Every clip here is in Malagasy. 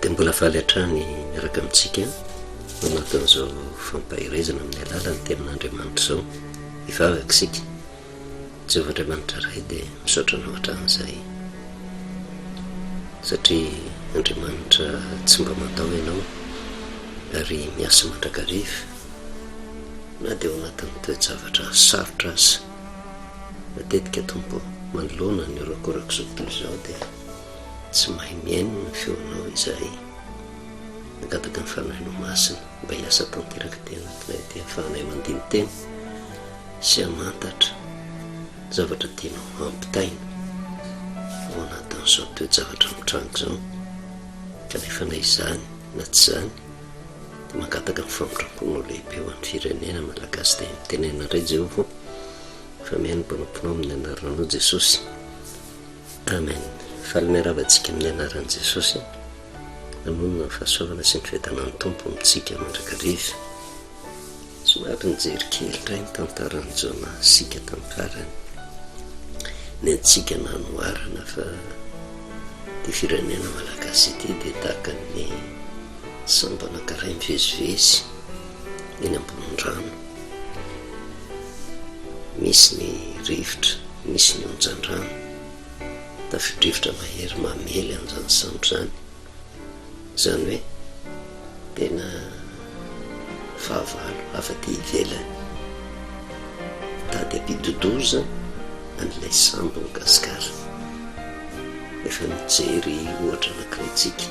dia mbola faly hatrany miaraka amintsika anatin'izao fampaherezana amin'ny alalan'ny tenin'Andriamanitra izao hivavaka isika Jehovah Andriamanitra Ray dia misaotra anao hatramin'izay satria Andriamanitra tsy mba mandao ianao ary miasa mandrakariva Na dia ao anatin'ny toe-javatra sarotra aza, matetika, Tompo ô, manoloana ny horakorak'izao tontolo izao, dia tsy mahay mihaino ny feonao izahay. Mangataka ny Fanahinao Masina mba hiasa tanteraka aty anatinay aty hahafahanay mandini-tena sy hamantatra ny zavatra tianao hampitaina ao anatin'izao toe-javatra mitranga izao, kanefa na izany na tsy izany, Mangataka ny famindramponao lehibe ho an'ny firenena Malagasy dia mitenena indray Jehovah ô, fa mihaino ny mpanomponao amin'ny anaranao Jesosy. Amen. Faly miarahaba antsika amin'ny anaran'i Jesosy. Mamonina ny fahasoavana sy ny fiadanan'ny Tompo amintsika mandrakariva. Somary nijery kely indray ny tantaran'i Jonah isika tamin'ny farany. Ny antsika nanoharana fa ity firenena malagasy ity dia tahaka ny sambo anankiray mivezivezy eny ambonin'ny rano. Misy ny rivotra, misy ny onjan-drano. Tafidrivotra mahery mamely an'izany sambo izany. Izany hoe tena fahavalo avy aty ivelany mitady hampidodoza an'ilay sambon'i Gascar. Efa nijery ohatra anankiray tsika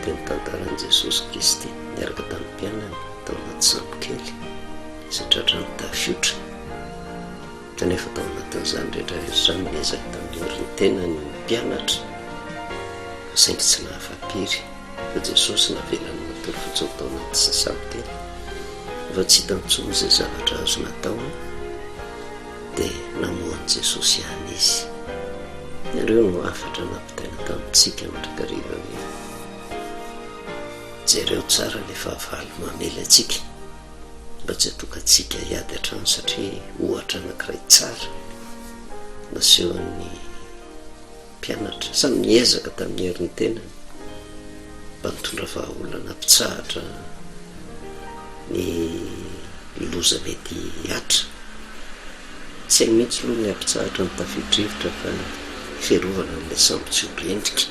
teo amin'ny tantaran'i Jesosy Kristy niaraka tamin'ny mpianany tao anaty sambokely izay tratran'ny tafiotra. Kanefa tao anatin'izany rehetra rehetra izany, niezaka tandoro ny tenany ny mpianatra, saingy tsy nahafa-pery, fa Jesosy navelany matory fotsiny tao anaty sasa-biteny. Rehefa tsy hita intsony izay zavatra azony atao, dia namoha an'i Jesosy ihany izy. Ireo no hafatra nampitaina tamintsika mandrakariva ve? Jereo tsara ilay fahavalo mamely antsika. mba tsy hatokantsika hiady hatrany satria ohatra anankiray tsara nasehon'ny mpianatra samy niezaka tamin'ny herin'ny tenany mba nitondra vahaolana hampitsahatra ny loza mety hihatra tsy hainy mihitsy aloha ny hampitsahatra ny tafio-drivotra fa fiarovana an'ilay sambo tsy ho rendrika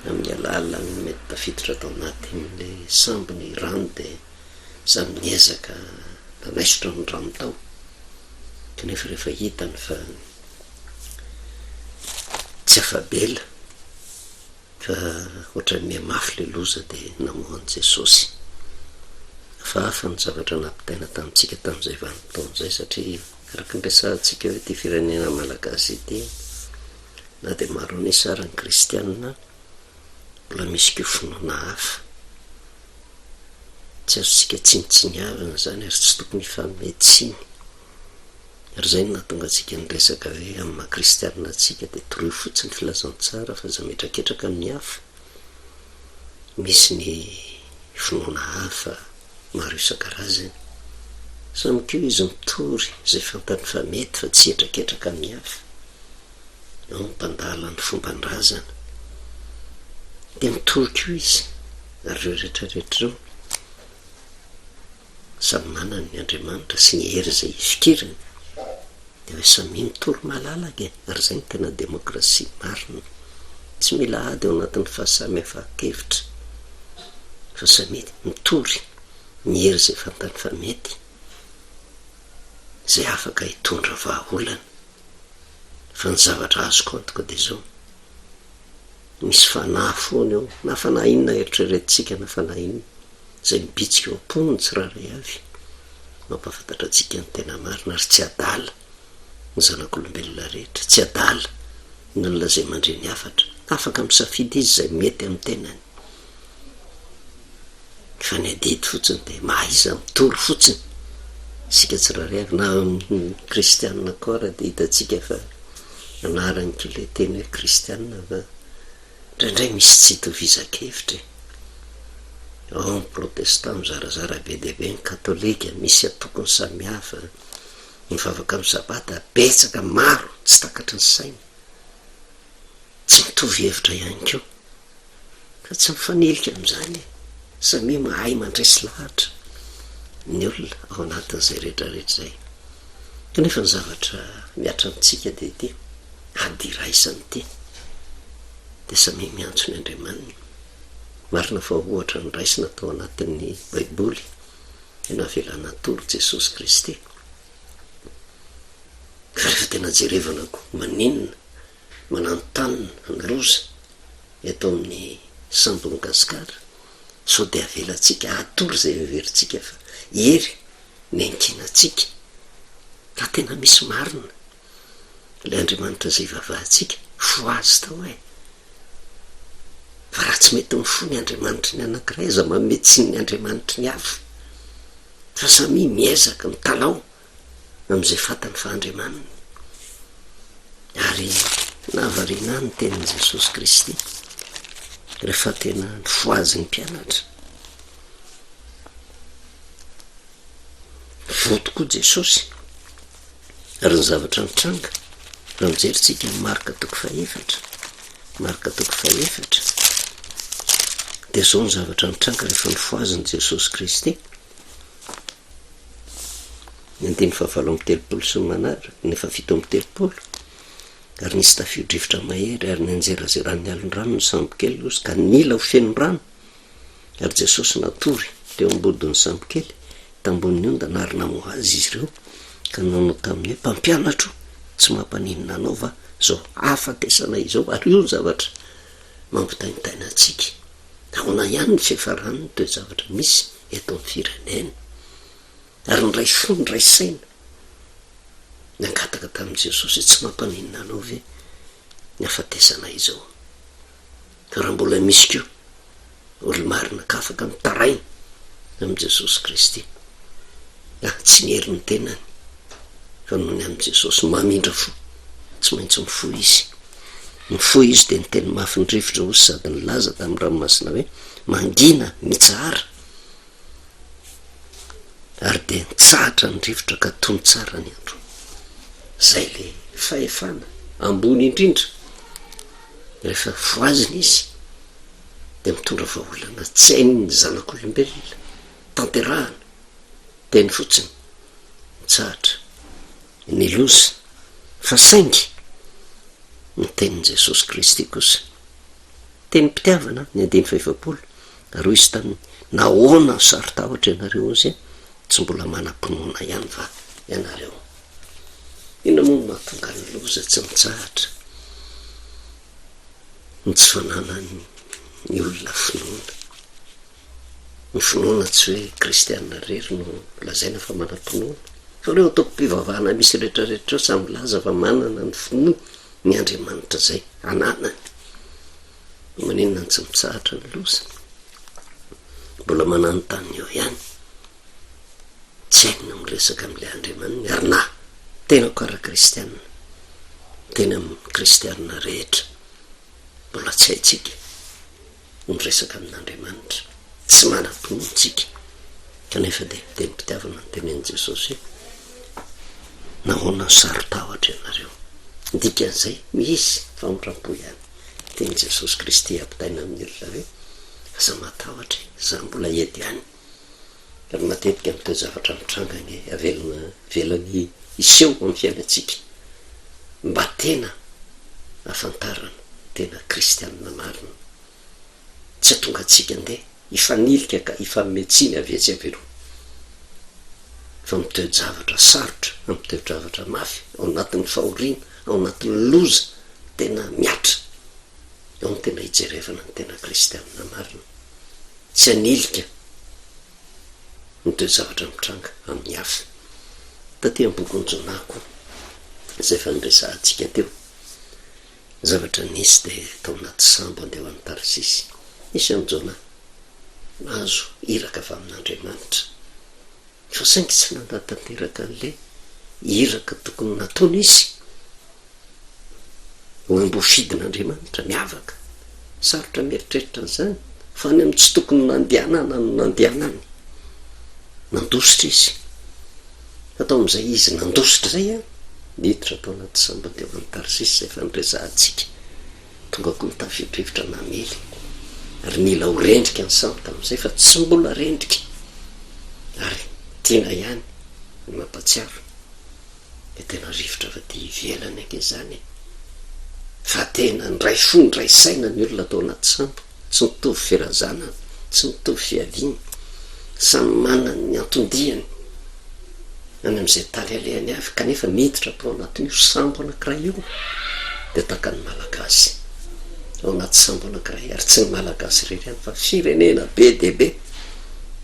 amin'ny alalan'ny mety tafiditra tao anatin'ilay sambo ny rano dia samy niezaka nanaisotra ny rano tao kanefa rehefa hitany fa tsy afa-bela fa ohatran'ny mihamafy ilay loza dia namoha an'i Jesosy. Hafahafa ny zavatra nampitaina tamintsika tamin'izay vanim-potoana izay satria Araka ny resahantsika hoe ity firenena malagasy ity na dia maro an'isa ary ny kristianina mbola misy koa finoana hafa. Tsy azontsika tsinontsiniavana izany ary tsy tokony hifanome tsiny. Ary izay no nahatonga antsika niresaka hoe amin'ny maha kristianina antsika dia toroy fotsiny ny filazantsara fa aza mihetraketraka amin'ny hafa, misy ny finoana hafa. maro isan-karazany. Samy koa izy mitory izay fantany fa mety fa tsy hetraketraka amin'ny hafa. Ao ny mpandala ny fomban-drazana. Dia mitory koa izy, ary ireo rehetra rehetra ireo samy manana ny Andriamanitra sy ny hery izay ifikirany. Dia hoe samy minotory malalaka e! Ary izay no tena demokrasia marina. Tsy mila ady ao anatin'ny fahasamihafankevitra fa samia mitory ny hery izay fantany fa mety, izay afaka hitondra vahaolana. Fa ny zavatra azoko antoka dia izao. Misy fanahy foana eo, na fanahy inona eritreretintsika na fanahy inona, izay mibitsika eo am-pony ny tsirairay avy, mampahafantatra antsika ny tena marina, ary tsy adala ny zanak'olombelona rehetra, tsy adala ny olona izay mandre ny hafatra, afaka misafidy izy izay mety amin'ny tenany, mifanadihady fotsiny dia mahaiza mitory fotsiny isika tsirairay avy na amin'ny kristianina koa ary dia hitantsika fa anarany koa ilay teny hoe kristianina fa indraindray misy tsy itovizan-kevitra e ao ny protestant mizarazara be dia be ny katolika misy antokony samihafa mivavaka amin'ny sabata betsaka maro tsy takatry ny saina tsy mitovy hevitra ihany koa Ka tsy mifanilika amin'izany e! Samia mahay mandresy lahatra ny olona ao anatin'izay rehetra rehetra izay. Kanefa ny zavatra mihatra amintsika dia ity, ady iraisana ity. Dia samia miantso ny Andriamaniny. Marina fa ohatra noraisina tao anatin'ny Baiboly ny navelany hatory Jesosy Kristy. Ka rehefa tena jerevana koa, maninona Mananontanona ny loza eto amin'ny sambon'i Gasikara, sao dia avelantsika hatory izay heverintsika fa hery ny ankinantsika, raha tena misy marina ilay Andriamanitra izay ivavahantsika, fo azy tao eh! Fa raha tsy mety ny fo ny Andriamanitry ny anankiray, aza manome tsiny ny Andriamanitry ny hafa, fa samia miezaka mitalaho amin'izay fantany fa Andriamaniny, ary nahavariana ahy ny tenin'i Jesosy Kristy rehefa tena nifohazy ny mpianatra. Voa tokoa Jesosy, ary ny zavatra nitranga, raha mijery tsika ny marika toko fahefatra, marika toko fahefatra, dia izao ny zavatra nitranga rehefa nifohazin'i Jesosy Kristy. Ny andininy fahavalo amby telopolo sy ny manaraka, ny fahafito amby telopolo, ary nisy tafio-drivotra mahery, ary nianjerazeran'ny alin-drano ny sambokely Nosy, ka nila ho feno rano, ary Jesosy natory teo am-bodon'ny sambokely, tambohon'ny ondana, ary namoha Azy izy ireo, ka nanao taminy hoe, Mpampianatro, tsy mampaninona Anao va izao hahafatesana izao? Ary io no zavatra mampitaintaina antsika. ahoana ihany ny fiafaran'ny toe-javatra misy eto amin'ny firenena ary niray fo niray saina nangataka tamin'i Jesosy hoe tsy mampaninona anao ve ny hafatesana izao? Raha mbola misy koa olo-marina ka afaka mitaraina amin'i Jesosy Kristy na tsy ny herin'ny tenany fa noho ny amin'i Jesosy mamindra fo tsy maintsy mifoha izy. Nifoha izy dia niteny mafy ny rivotra osy sady nilaza tamin'ny ranomasina hoe, Mangina, mitsahara! Ary dia nitsahatra ny rivotra ka tony tsara ny andro. Izay ilay fahefana ambony indrindra. Rehefa voazina izy dia mitondra vahaolana tsy hain'ny zanak'olombelona tanterahana. Teny fotsiny, mitsahatra. ny loza, fa saingy ny tenin'i Jesosy Kristy kosa. Tenim-pitiavana, ny andininy fahefapolo, ary hoy izy taminy, Nahoana no saro-tahotra ianareo hozy? Tsy mbola manam-pinoana ihany va ianareo? Inona moa no mahatonga ny loza tsy mitsahatra ny tsy fananan'ny olona finoana? Ny finoana tsy hoe kristiana irery no lazaina fa manam-pinoana, fa ireo antokom-pivavahana misy rehetrarehetra ireo samy milaza fa manana ny finoany ny Andriamanitra izay ananany. Maninona no tsy mitsahatra ny loza? Mbola mananontany eo ihany. Tsy hainy ny miresaka amin'ilay Andriamaniny ary na tena ko ary kristiana, tena amin'ny kristiana rehetra mbola tsy haintsika. no miresaka amin'Andriamanitra, tsy manam-pinoana isika kanefa dia tenim-pitiavana no tenenin'i Jesosy hoe, Nahoana no saro-tahotra ianareo? Ny dikan'izay, misy famindram-po ihany. Tenin'i Jesosy Kristy ampitaina amin'ny olona hoe, Aza matahotra e, izaho mbola eto ihany. ary matetika ny toe-javatra mitranga anie avelana velany hiseho amin'ny fiainantsika mba tena ahafantarana tena kristianina marina. Tsy atonga antsika andeha hifanilika ka hifanome tsiny avy etsy avy eroa fa amin'ny toe-javatra sarotra, amin'ny toe-javatra mafy, ao anatin'ny fahoriana, ao anatin'ny loza tena mihatra, ao no tena hijerevana ny tena kristianina marina. tsy hanilika ny toe-javatra mitranga amin'ny hafa. Taty amin'ny bokin'i Jonah koa, izay efa noresahantsika teo, ny zavatra nisy dia tao anaty sambo handeha ho any Tarsisy. Nisy an'i Jonah nahazo iraka avy amin'Andriamanitra. fa saingy tsy nanatanteraka an'ilay iraka tokony nataony izy. Nambofidin'Andriamanitra miavaka. Sarotra mieritreritra an'izany, fa any amin'ny tsy tokony nandehanana no nandehanany. Nandositra izy. Fa tao amin'izay izy nandositra izay, niditra tao anaty sambany teo any Tarsisa izay efa noresahantsika. Tonga koa ny tafio-drivotra namely ary nila ho rendrika ny sampy tamin'izay fa tsy mbola rendrika ary tiana ihany ny mampatsiaro dia tena rivotra avy aty ivelany ange izany e! Fa tena nidray fo nidray saina ny olona tao anaty sampy. Tsy mitovy firazanany, tsy mitovy fiaviany, samy manana ny anton-diany any amin'izay tany alehany avy kanefa miditra tao anatin'io sambo anankiray io dia tahaka ny Malagasy ao anaty sambo anankiray ary tsy ny Malagasy irery ihany fa firenena be dia be,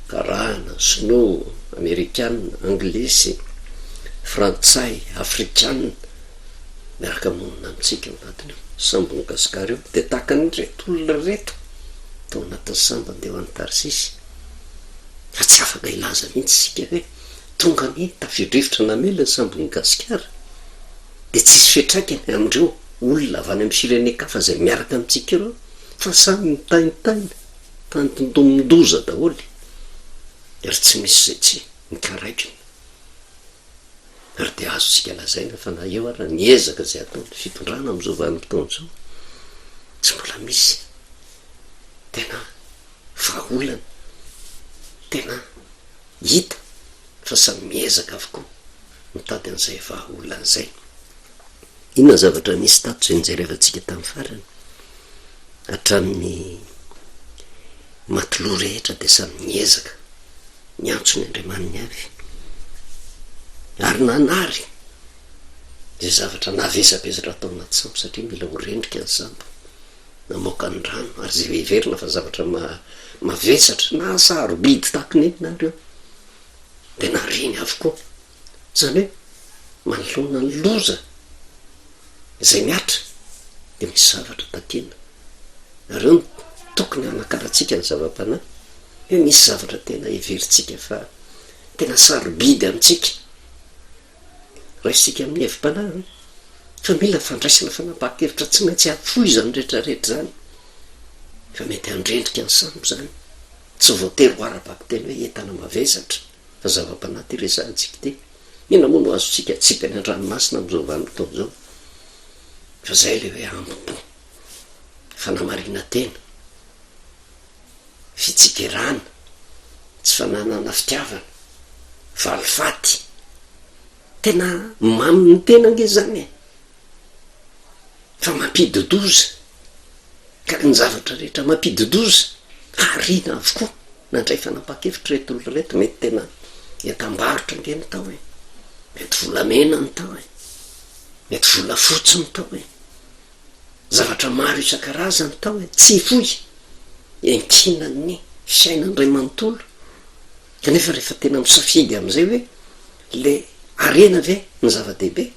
Karana, Sinoa, Amerikana, Anglisy, Frantsay, Afrikana, miaraka monina amintsika ao anatin'io sambon'i Gasikara io, dia tahaka an'ireto olona ireto tao anatin'ny sambo handeha ho any Tarsisy, fa tsy afaka hilaza mihitsy isika hoe tonga anie tafio-drivotra namela ny sambon'i Gasikara, dia tsy hisy fiantraikany amin'ireo olona avy any amin'ny firenen-kafa izay miaraka amintsika ireo, fa samy mitaintaina tany tontomin-doza daholo, ary tsy misy izay tsy mikaraikina. ary dia azontsika lazaina fa na eo ary ny ezaka izay ataon'ny fitondrana amin'izao vanim-potoana izao, tsy mbola misy tena vahaolana tena hita fa samy miezaka avokoa mitady an'izay vahaolana izay. Inona ny zavatra nisy tato izay nojerevantsika tamin'ny farany? Hatramin'ny matelot rehetra dia samy niezaka niantso ny andriamaniny avy ary nanary izay zavatra navesabesatra atao anaty sambo satria mila ho rendrika ny sambo namoaka ny rano ary izay heverina fa zavatra ma- mavesatra na sarobidy tahaka ny inona ary eo dia nareny avokoa Izany hoe manoloana ny loza izay mihatra dia misy zavatra takiana. Ireo no tokony hanakarantsika ny zava-panahy hoe misy zavatra tena heverintsika fa tena sarobidy amintsika. Raisintsika amin'ny hevi-panahy fa mila fandraisana fanapahan-kevitra tsy maintsy hahafoy izany rehetrarehetra izany fa mety handrendrika ny sambo izany, tsy voatery ho ara-bakiteny hoe entana mavesatra. fa zava-panahy ity resahantsika ity, inona moa no azontsika atsipy any an-dranomasina amin'izao vanim-potoana izao? Fa izay ilay hoe ambim-po, fanamarinan-tena, fitsikerana, tsy fananana fitiavana, valifaty, tena mamy ny tena ange izany e! fa mampidi-doza, ka ny zavatra rehetra mampidi-doza, hariana avokoa. Nandray fanapahan-kevitra ireto olona ireto, mety tena entam-barotra ange ny tao e! Mety volamena ny tao e! Mety volafotsy ny tao e! Zavatra maro isan-karazany tao e! Tsy hifoy! Iankinan'ny fiainana iray manontolo, kanefa rehefa tena misafidy amin'izay hoe, Le harena ve no zava-dehibe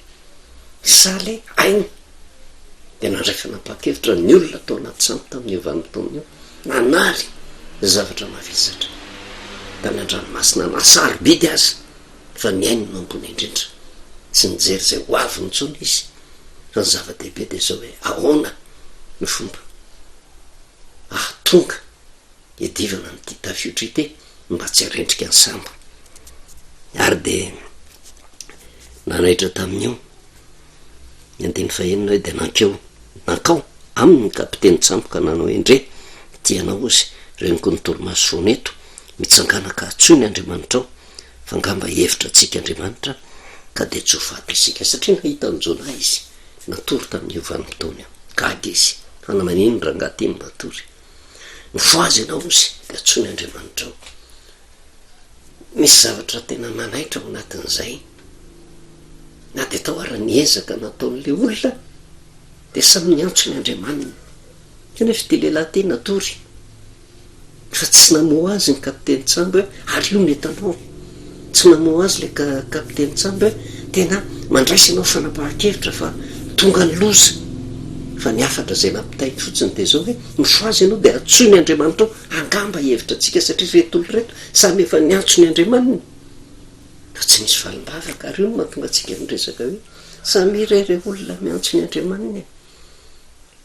sa le aina? Dia nandray fanapahan-kevitra ny olona tao anaty sampy tamin'io vanim-potoana io, nanary zavatra mavesatra tany an-dranomasina na sarobidy aza fa nihaino no ambony indrindra. Tsy nijery izay ho avy intsony izy fa ny zava-dehibe dia izao hoe ahoana no fomba ahatonga iadivana amin'ity tafiotra ity mba tsy harendrika ny sambo. Ary dia nanaitra tamin'io ny andiny fahenina hoe dia nankeo nankao aminy ny kapiteny tsambo ka nanao hoe ndre tianao ozy reniko ny torimaso foana eto mitsangana ka atsoiny Andriamanitrao fa ngamba hihevitra antsika Andriamanitra ka dia tsy ho faty isika satria nahita an'i Jonah izy natory tamin'io vanim-potoana io gaga izy fa na manino ny rangahy ity no matory Mifohaza ianao ozy dia antsoiny Andriamanitra ao. Misy zavatra tena manaitra ao anatin'izay. Na dia tao ary ny ezaka nataon'ilay olona dia samy niantso ny Andriamaniny. Kanefa ity lehilahy ity natory fa tsy namoha azy ny kapiteny tsangy hoe ary io ny hitanao. Tsy namoha azy ilay kapiteny Tsamba hoe, Tena mandraisa ianao fanapahan-kevitra fa tonga ny loza. Fa ny hafatra izay nampitainy fotsiny dia izao hoe, Mifoha azy ianao dia antsoin'i Andriamanitao angamba hihevitra antsika satria ireto olona ireto samy efa niantso ny andriamaniny. Fa tsy nisy valim-bavaka ary io no mahatonga antsika miresaka hoe, Samia re ireo olona miantso ny andriamaniny e!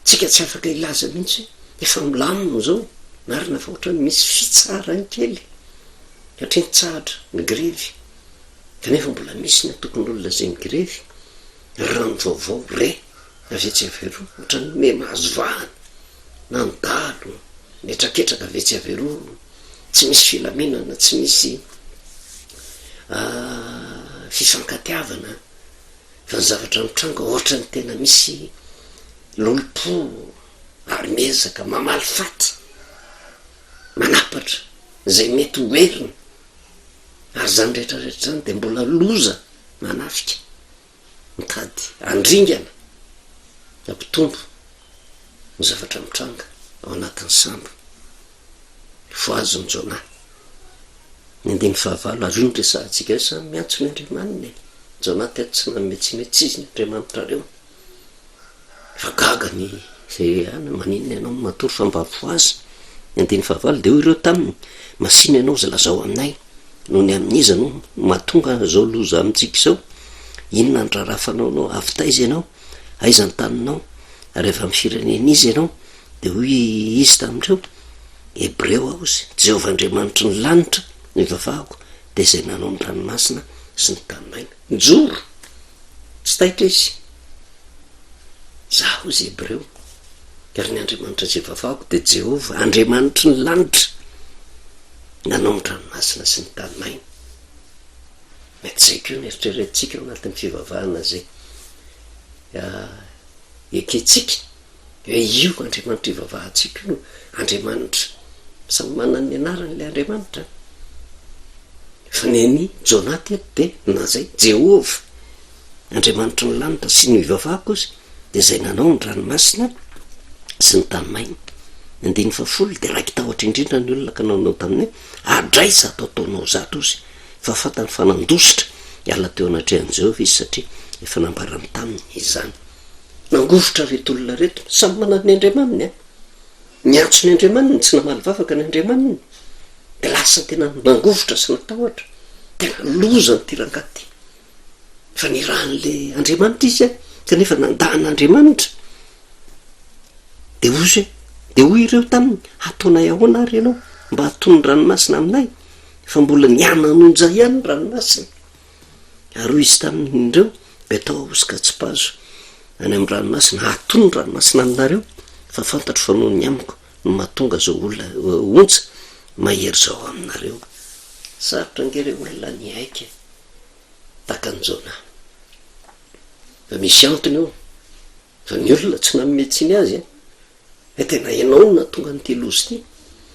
tsika tsy afaka hilaza mihitsy hoe efa milamina zao marina fa ohatrany misy fitsaharany kely satria nitsahatra ny grevy kanefa mbola misy ny antokon'olona izay migrevy raha ny vaovao re avy etsy avy eroa ohatrany hoe mahazo vahana na ny dalo mihetraketraka avy etsy avy eroa tsy misy filaminana tsy misy ah, fifankatiavana Fa ny zavatra mitranga ohatra ny tena misy lolompo ary miezaka mamaly faty, manapatra izay mety ho heriny ary izany rehetra rehetra izany dia mbola loza manafika mitady handringana hampitombo ny zavatra mitranga ao anatin'ny sambo. voazon'i Jonah. Ny andininy fahavalo ary io no resahantsika io, samy miantso ny Andriamaniny e! Jonah teto tsy nanome tsy mety sizy ny Andriamanitrareo. Efa gaga ny izay rehahana, maninona ianao no matory fa mba voazy? Ny andininy fahavalo dia hoy ireo taminy, masina ianao izay lazao aminay, nony amin'iza no mahatonga izao loza amintsika izao? Inona ny raharaha fanaonao? Avy taiza ianao? Aiza ny taninao? Ary avy amin'ny firenen'iza ianao? Dia hoy Izy tamin'ireo, Hebreo aho sy Jehovah Andriamanitry ny lanitra no ivavahako, dia Izay nanao ny ranomasina sy ny tany maina. Nijoro, tsy taitra izy. Izaho izy Hebreo, ary ny Andriamanitra izay ivavahako dia Jehovah Andriamanitry ny lanitra nanao ny ranomasina sy ny tany maina. Mety izay koa no eritreretintsika ao anatin'ny fivavahana izay ekentsika. Dia io Andriamanitra ivavahantsika io Andriamanitra samy manana ny anarany ilay Andriamanitra an! Fa ny an'i Jonah teto dia na izay, Jehovah, Andriamanitry ny lanitra sy ny ivavahako izy, dia izay nanao ny ranomasina sy ny tany maina. Ny andininy fahafolo dia raiki-tahotra indrindra ny olona ka nanao tamin'ny hoe, Adray zato ataonao zato ozy! Fa fantany fa nandositra hiala teo anatrehan'i Jehovah izy satria efa nambarany taminy izany. Nangovitra reto olona reto. Samy manana ny andriamaniny an! Niantso ny andriamaniny, tsy namaly vavaka ny andriamaniny. Dia lasa tena nangovitra sy natahotra. Tena loza an'ity rangahy ity. Efa nirahan'ilay andriamanitra izy an! Kanefa nanda an'andriamanitra. Dia hoy izy hoe, dia hoy ireo taminy, hataonay ahoana ary ianao mba hatono ny ranomasina aminay? Efa mbola nihanan'onja ihany ny ranomasina. Ary hoy izy taminy, Indreo, dia tao ahosoka tsipazo any amin'ny ranomasina, hatono ny ranomasina aminareo, fa fantatro fa noho ny amiko no mahatonga izao olona, ontsa, mahery izao aminareo. Sarotra ange re olona ny hiaiky e! Takan'i Jonah. Fa misy antony eo. Fa ny olona tsy nanome tsiny azy an! Dia tena ianao no nahatonga an'ity loza ity.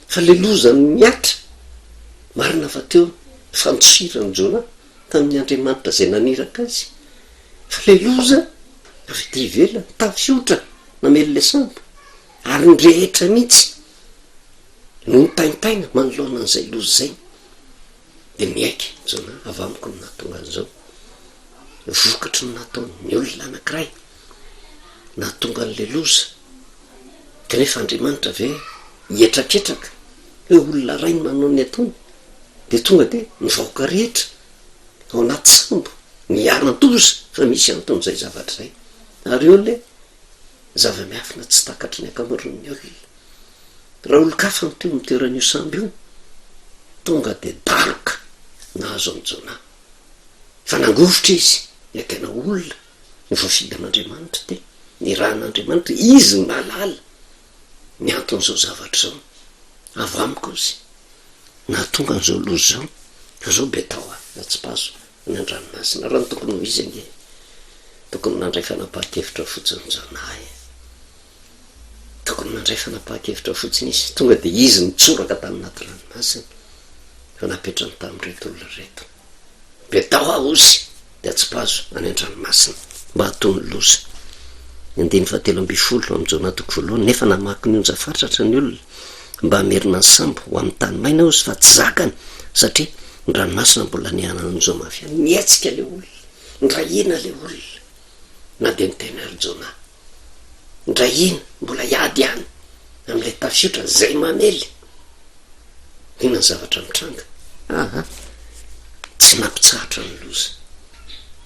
Fa ilay loza mihatra! Marina fa teo ny fandosiran'i Jonah tamin'ny Andriamanitra izay naniraka azy. Fa ilay loza avy aty ivelany, tafiotra, namely ilay sambo. Ary ny rehetra mihitsy no nitaintaina manoloana an'izay loza izay. Dia miaiky izao na avy amiko no nahatonga an'izao. Vokatry ny nataon'ny olona anankiray no nahatonga an'ilay loza. Kanefa Andriamanitra ve hihetraketraka hoe olona iray no nanao ny ataony dia tonga dia ny vahoaka rehetra ao anaty sambo no hiharan-doza fa misy anton'izay zavatra izay? Ary eo ilay. zava-miafina tsy takatry ny ankamaroan'ny olona. Raha olon-kafa no teo amin'ny toeran'io sambo io, tonga dia daroka nahazo an'i Jonah. Fa nangovitra izy, ilay tena olona no voafidy an'Andriamanitra teo, nirahan'Andriamanitra, Izy no nahalala ny anton'izao zavatra izao. Avo amiko Izy. Nahatonga an'izao loza izao. Fa izao be tao aho, atsipazo. Ny andranomasina ary no tokony ho izy ange. Tokony nandray fanapahan-kevitra fotsiny zanahy e. Tokony nandray fanapahan-kevitra fotsiny izy, tonga dia izy nitsoraka tany anaty ranomasina fa napetrany tamin'ireto olona ireto. Dia tao aho osy dia atsipazo any an-dranomasina mba hatoy ny loza. Ny andininy fahatelo ambin'ny folo amin'i Jona toko voalohany, Nefa namaky ny onja fatratra ny olona mba hamerina ny sambo ho amin'ny tany maina aho osy fa tsy zakany, satria Ny ranomasina mbola nihanana an'i Joma avy any. Nihetsika ilay olona. Nirahina ilay olona. Na dia niteny ary Jona. Nirahina, mbola hiady ihany amin'ilay tafiotra izay mamely. Inona ny zavatra mitranga? Aha! Tsy nampitsahatra ny loza.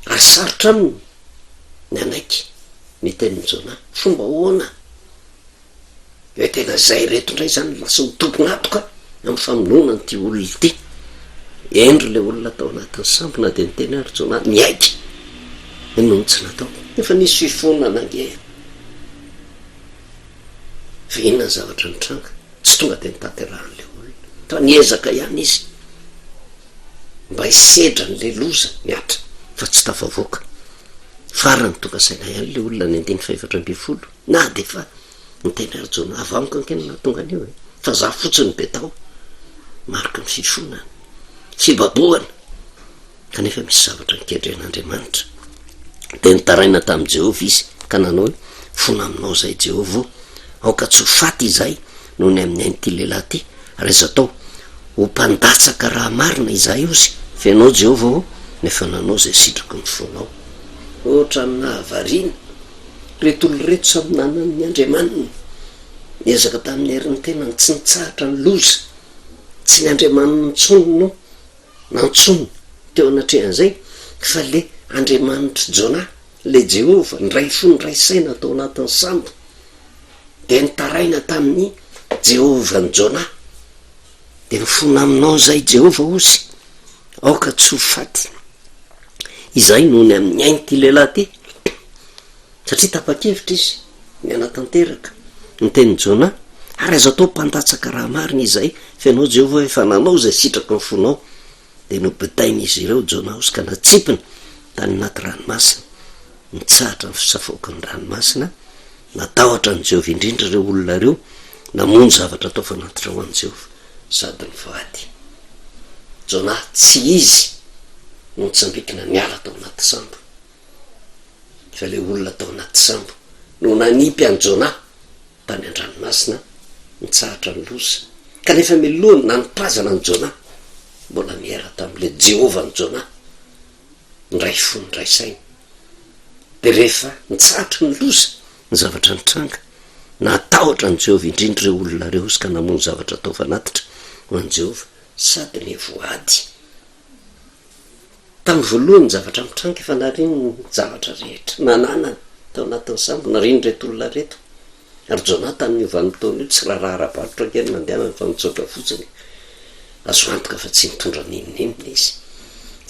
Raha sarotra aminy ny hanaiky ny tenin'i Jona, fomba ahoana? Dia tena zay reto ndray zany lasa ho tompon'atoka amin'ny famonoana an'ity olona ity. Hendry le olona tao anatin'ny sambo na dia niteny ary Jonah niaiky ny nony tsy natao. Efa nisy fiforonana ange e! Fa inona ny zavatra nitranga? Tsy tonga dia notanterahan'le olona fa niezaka ihany izy mba hisedra an'le loza nihatra fa tsy tafavoaka. Farany tonga saina ihany le olona ny andininy fahefatra ambin'ny folo. Na dia efa niteny Rajaonah vaho amiko ankeno nahatonga an'io e! Fa za fotsiny betao, mariky ny fifonana, fibabohana, kanefa misy zavatra nikendren'Andriamanitra. Dia nitaraina tamin'i Jehovah izy ka nanao hoe, Fona aminao izay Jehovah o, aoka tsy ho faty izahay noho ny amin'ny ain'ity lehilahy ity, ary aza atao ho mpandatsaka raha marina izahay ozy. Fenao Jehovah o, nefa nanao izay sitraky ny fonao. Ohatran'ny nahavariana. Ireto olona ireto samy nanana ny andriamaniny. Niezaka tamin'ny herin'ny tenany, tsy nitsahatra ny loza. Tsy ny andriamaniny intsony no nantsoiny teo anatrehan'izay, fa ilay Andriamanitr'i Jonah, ilay Jehovah, niray fo niray saina tao anatin'ny sambo. Dia nitaraina tamin'i Jehovah an'i Jonah. Dia mifona aminao izay Jehovah Osy, aoka tsy ho faty. Izay no ny amin'ny ain'ity lehilahy ity, satria tapa-kevitra izy ny hanatanteraka ny tenin'i Jona, ary aza atao mpandatsaka raha marina izay, fa ianao Jehovah efa nanao izay sitraky ny fonao Dia nobitain'izy ireo Jonaosy ka natsipiny tany anaty ranomasina. Nitsahatra ny fisafoako ny ranomasina. Natahotra an'i Jehovah indrindra ireo olona ireo, namono zavatra atao fanatitra ho an'i Jehovah, sady nivady. Jona tsy izy no nitsambikina niala tao anaty sambo, fa ilay olona tao anaty sambo no nanipy an'i Jona Tany an-dranomasina nitsahatra ny loza, kanefa miloha ny nanipazana an'i Jona, mbola niera tamin'ilay Jehovah an'i Jona, niray fo niray saina. Dia rehefa nitsahatra ny loza, ny zavatra nitranga, nahatahotra an'i Jehovah indrindra ireo olona ireo izy ka namono zavatra atao fanatitra ho an'i Jehovah sady nivoady. Tamin'ny voalohany ny zavatra mitranga efa nariny ny zavatra rehetra nananany tao anatin'ny sambo, nariny ireto olona ireto ary Jonathan io vanim-potoana io tsy raharaha ara-barotra ange no nandehanany fa nitsoaka fotsiny, azo antoka fa tsy nitondra n'inon'inona izy,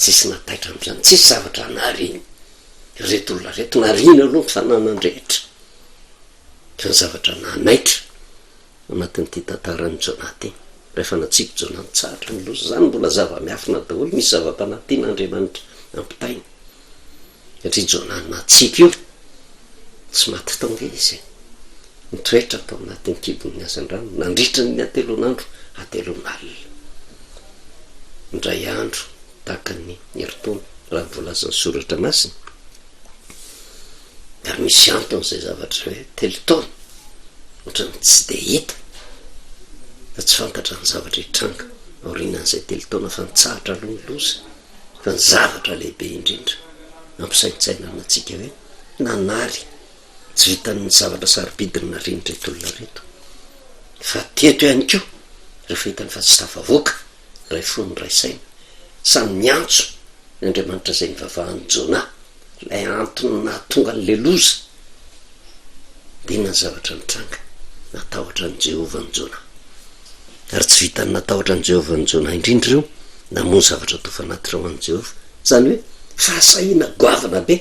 tsisy nataitra amin'izany, tsisy zavatra nariny ireto olona ireto, nariny aloha ny fananan-drehetra fa ny zavatra nanaitra anatin'ity tantaran'i Jonah ity. Rehefa natsipy Jonah nitsahatra ny loza, izany mbola zava-miafina daholo, misy zava-panahy tian'Andriamanitra ampitaina. Satria Jonah natsipy io, tsy maty tao ange izy. Nitoetra tao anatin'ny kibon'ny hazandrano nandritra ny hatelon'andro hatelon'alina. Indray andro, tahaka ny herintaona, raha ny voalazan'ny Soratra Masina, ary misy antony izay zavatra hoe telo taona ohatran'ny tsy dia hita fa tsy fantatra ny zavatra hitranga aorianan'izay telo taona fa nitsahatra aloha ny loza fa ny zavatra lehibe indrindra nampisaintsainana antsika hoe nanary tsy vitan'ny zavatra sarobidiny narian'ireto olona reto fa teto ihany koa rehefa hitany fa tsy tafavoaka Ray fo no Ray saina. Samy miantso ny Andriamanitra izay nivavahan'i Jona, ilay antony nahatonga an'ilay loza. Dia inona ny zavatra nitranga? Natahotra an'i Jehovah an'i Jona. Ary tsy vitan'ny natahotra an'i Jehovah an'i Jona indrindra ireo, namono zavatra toa fanatitra ho an'i Jehovah, izany hoe fahasahiana goavana be,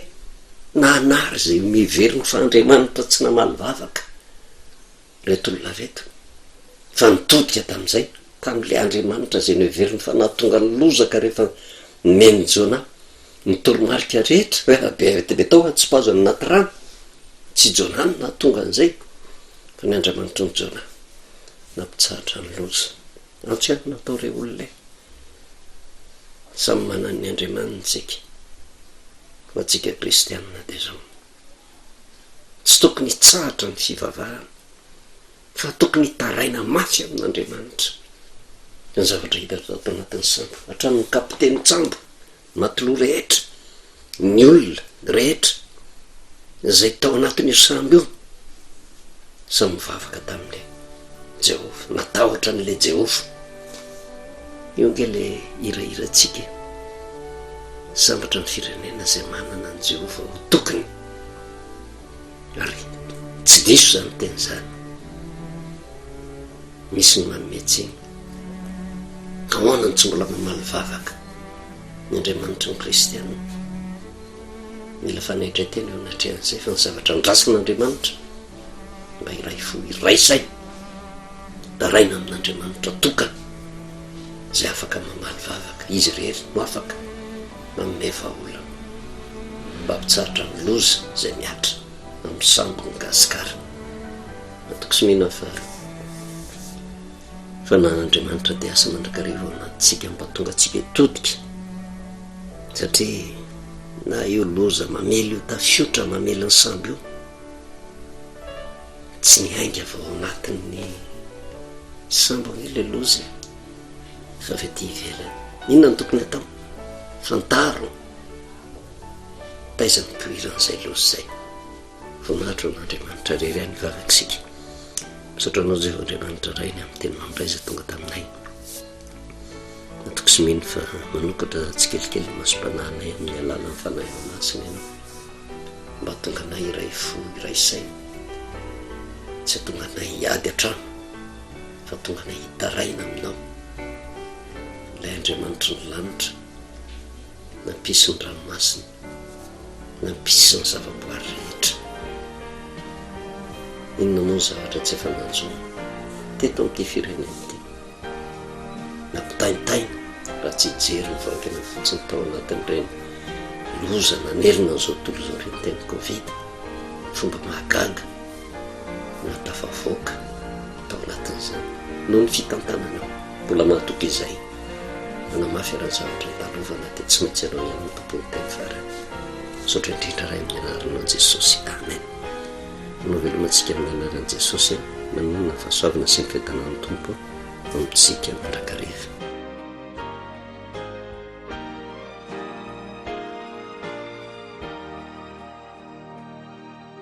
na hanary izay miheverina fa andriamanitra tsy namaly vavaka. reto olona reto fa nitodika tamin'izay tamin'ilay Andriamanitra izay noheveriny fa nahatonga ny lozaka rehefa nomen'i Jonah ny toromarika rehetra rehefa be arety be tao an-tsipazana anaty rano. Tsy Jonah no nahatonga an'izay fa ny Andriamanitry ny Jonah nampitsahatra ny loza. Antso ihany no natao ireo olona e. Samy manana ny Andriamaniny isika fa antsika kristianina dia izao. Tsy tokony hitsahatra ny fivavahana, fa tokony hitaraina mafy amin'Andriamanitra. Ny zavatra hita ato anatin'ny sambo, hatramin'ny kapitenin-tsambo, matelot rehetra, ny olona rehetra izay tao anatin'io sambo io, samy nivavaka tamin'ilay. Jehovah, natahotra an'ilay Jehovah. Io ange ilay hirahirantsika e! Sambatra ny firenena izay manana an'i Jehovah ho tokiny. Ary tsy diso izany teny izany. Misy ny manome tsiny. Ahoana no tsy mbola mamaly vavaka ny Andriamanitry ny Kristianina? Mila fanaitran-tena eo anatrehan'izay fa ny zavatra andrasan'Andriamanitra mba iray fo iray saina daraina amin'Andriamanitra tokana izay afaka mamaly vavaka izy irery no afaka manome vahaolana mba mpitsaritra ny loza izay miatra amin'ny sambo ny gasikara antoko sy mena fa fa na Andriamanitra dia asa mandrakariva ao anatintsika mba tonga tsika todika satria na io loza mamely io tafiotra mamely ny sambo io Tsy niainga avy ao anatin'ny sambo anie ilay loza e, fa avy aty ivelany. Inona no tokony atao? Fantaro taiza nipoiran'izay loza izay. Voninahitra ho an'Andriamanitra irery ihany ny vavak'isika. Misaotra anao Jehovah Andriamanitra Ray ny amin'ny teny mamin'ilay izay tonga taminay. Natokisy mino fa manokatra tsikelikely ny masom-panahinay amin'ny alalan'ny Fanahiny Masina ianao. mba tonga anay iray fo iray saina, tsy atonga anay hiady an-trano fa tonga anay hitaraina aminao, ilay Andriamanitry ny lanitra nampisy ny ranomasina, nampisy ny zavaboary rehetra. Inona moa ny zavatra tsy efa nanjo teto amin'ity firenena ity? nampitaintaina raha tsy hijery ny vahoakany fotsiny tao anatin'ireny loza nanerina an'izao tontolo izao ireny teny covid fomba mahagaga na tafavoaka tao anatin'izany noho ny fitantanana mbola mahatoky izay nanamafy iran'ny zavatra andalovana dia tsy maintsy ianao ihany ny tompon'ny teny farany misaotra indrindra ray amin'ny anarana an'i jesosy amen Ho navelomantsika amin'ny anaran'i Jesosy an! Maninona fahasoavana sy ny fiadanan'ny Tompo ho amintsika mandrakariva.